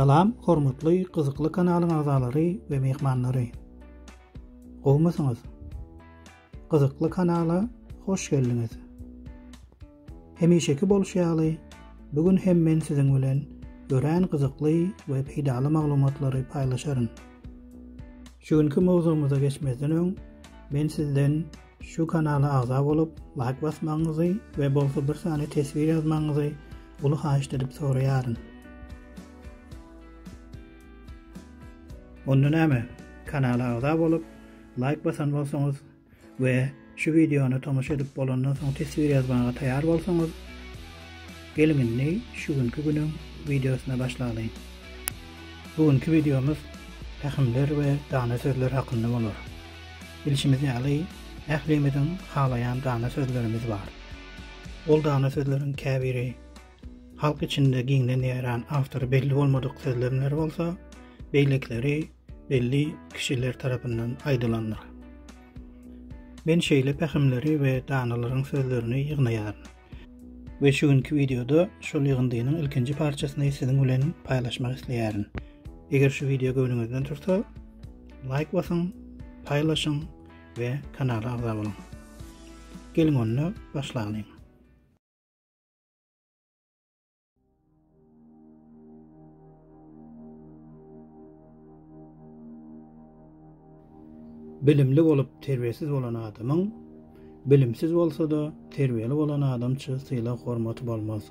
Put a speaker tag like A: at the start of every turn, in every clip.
A: Salam, hormatly gyzykly kanalyň agzalary we mehmanlary. Gowmysyňyz? Gyzykly kanala hoş geldiňiz. Hemişeki bolşy ýaly, bu gün hem men siziň bilen örän gyzykly we peýdaly maglumatlary paýlaşaryn. Şu günki mowzugymyza geçmezden öň, men sizden şu kanala agza bolup, laýk basmagyňyzy we bolsa bir sany teswir ýazmagyňyzy uly haýyşt edip soraýaryn. Onda näme, kanala agza bolup, laýk basan bolsaňyz, we şu wideony tomaşa edip bolandan soň teswir ýazmaga taýar bolsaňyz, geliň indi şu günki günüň wideosyna başlalyň. Bu günki wideomyz pähimler we dana sözler hakynda bolar. Bilşimiz ýaly, ählimiziň halaýan dana sözlerimiz bar. Ol dana sözleriň käbiri halk içinde giňden ýaýran awtory belli bolmadyk sözlemler bolsa, beýlekileri belli kişiler tarapyndan aýdylandyr. Men şeýle pähimleri we danalaryň sözlerini ýygnaýaryn. We şu günki wideoda şol ýygyndynyň ilkinji parçasyny siziň bilen paýlaşmak isleýärin. Eger şu wideo göwnüňizden tursa, laýk basyň, paýlaşyň we kanala agza boluň. Geliň onda başlalyň. Bilimli bolup terbiýesiz bolan adamyň bilimsiz bolsa-da terbiýeli bolan adamça sylag-hormaty bolmaz.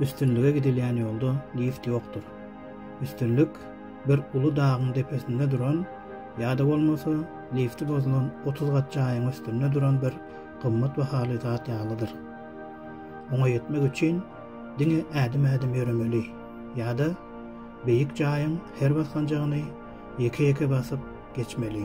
A: Üstünlige gidilýän ýolda lift ýokdur. Üstünlik bir uly dagyň depesinde duran ýa-da bolmasa lifti bozulan otuz gat jaýyň üstünde duran bir gymmat bahaly zat ýalydyr. Oňa ýetmek üçin diňe ädim-ädim ýöremeli ýa-da beýik jaýyň her basganjagyny ýeke-ýeke basyp geçmeli.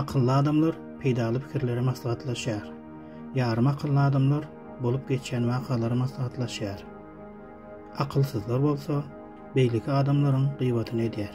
A: Akylly adamlar peýdaly pikirleri maslahatlaşýar. Ýarym akylly adamlar bolup geçýän wakalary maslahatlaşýar. Akylsyzlar bolsa beýleki adamlaryň gyýbatyny edýär.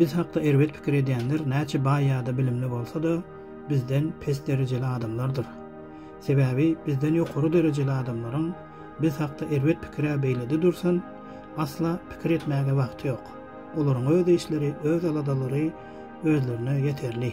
A: Biz hakda erbet pikir edýänler näçe baý ýa-da bilimli bolsa-da, bizden pes derejeli adamlardyr. Sebäbi bizden ýokary derejeli adamlaryň biz hakda erbet pikir-ä beýlede dursun, asla pikir etmäge wagty ýok. Olaryň öz işleri, öz aladalary özlerine ýeterli.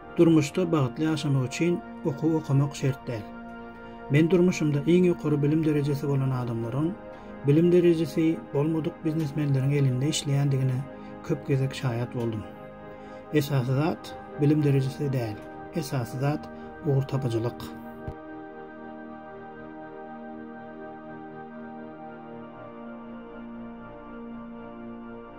A: Durmuşda bagtly ýaşamak üçin okuw okamak şert däl. Men durmuşymda iň ýokary bilim derejesi bolan adamlaryň bilim derejesi bolmadyk biznesmenleriň elinde işleýändigine köp gezek şaýat boldum. Esasy zat bilim derejesi däl, esasy zat ugurtapyjylyk.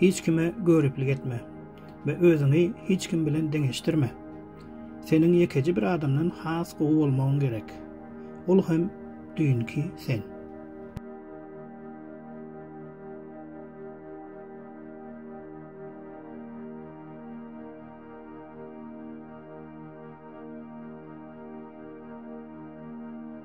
A: Hiç kime göriplik etme we özüňi hiç kim bilen deňeşdirme. Seniň ýekeje bir adamdan has gowy bolmagyň gerek. Ol hem düýnki sen.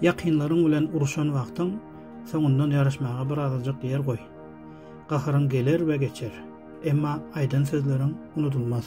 A: Ýakynlaryň bilen uruşan wagtyň, soňundan ýaryşmaga bir azajyk ýer goý. Gaharyň geler we geçer, emma aýdan sözleriň unudylmaz.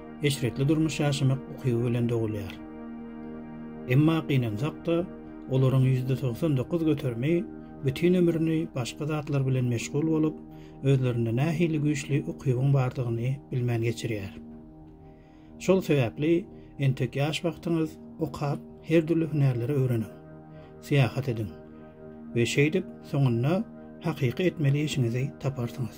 A: eşretli durmuş ýaşamak ukyby bilen dogulýar. Emma gynansak-da, olaryň ýüzde togsan dokuz göterimi bütin ömrüni başga zatlar bilen meşgul bolup, özlerinde nähili güýçli ukybyň bardygyny bilmän geçirýär. Şol sebäpli entek ýaş wagtyňyz okap, her dürli hünärleri öwreniň, syýahat ediň we şeýdip, soňunda hakyky etmeli işiňizi taparsyňyz.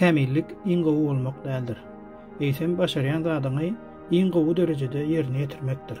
A: Kämillik iň gowy bolmak däldir. Eýsem başarýan zadyňy iň gowy derejede ýerine ýetirmekdir.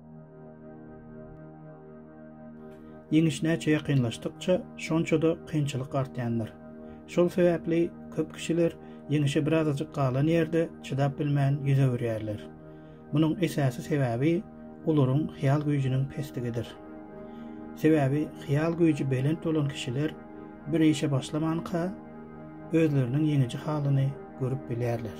A: Ýeňiş näçe ýakynlaşdykça, şonça-da kynçylyk artýandyr. Şol sebäpli köp kişiler ýeňişe birazajyk galan ýerde çydap bilmän ýüz öwürýärler. Munuň esasy sebäbi olaryň hyýal güýjüniň pesligidir. Sebäbi hyýal güýji belent bolan kişiler bir işe başlamanka, özleriniň ýeňiji halyny görüp bilýärler.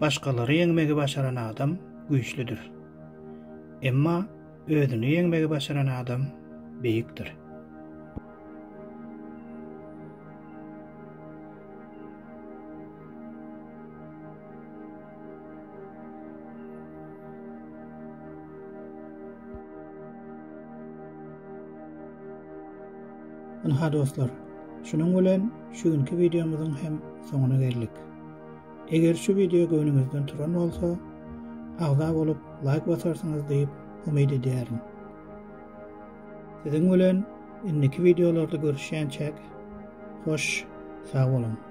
A: Başgalary ýeňmegi başaran adam güýçlüdir. Emma özüni ýeňmegi başaran adam beýikdir. Ynha dostlar, şunuň bilen şu günki wideomyzyň hem soňuna geldik. Eger şu wideo göwnüňizden turan bolsa, agza bolup laýk basarsyňyz diýip umyt edýärin. Siziň bilen indiki wideolarda görüşýänçäk, hoş, sag boluň!